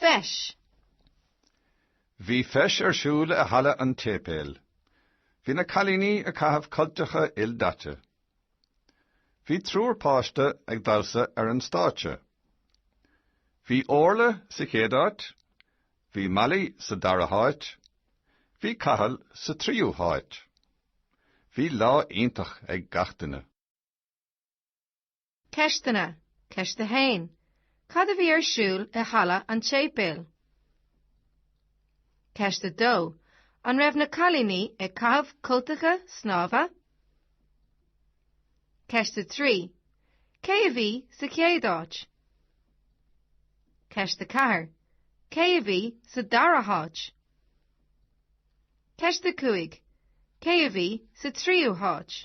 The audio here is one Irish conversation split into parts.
Feis. Bhí feis ar siúl i halla an tséipéil. Bhí na cailíní ag caitheamh cultacha ildaite. Bhí triúr páiste ag damhsa ar an stáitse. Bhí Orla sa chéad áit, bhí Molly sa dara háit, bhí Cathal sa tríú háit. Bhí lá iontach ag gach duine. Ceisteanna, Ceist 1. Cad a bhí ar siúl i halla an tséipéil? Ceist 2. An raibh na cailíní ag caitheamh cultacha snámha? Ceist 3. Cé a bhí sa chéad áit? Ceist 4. Cé a bhí sa dara háit? Ceist 5. Cé a bhí sa tríú háit?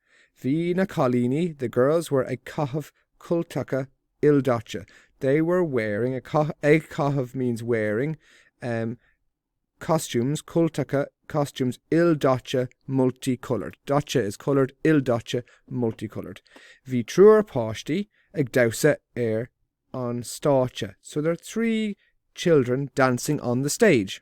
Bhí na cailíní, the girls were ag caitheamh cultacha ildaite, they were wearing, ag caitheamh means wearing costumes cultacha costumes ildaite multi-coloured, daite is coloured, ildaite multi-coloured. Bhí triúr páistí ag damhsa ar an stáitse, so there are three children dancing on the stage.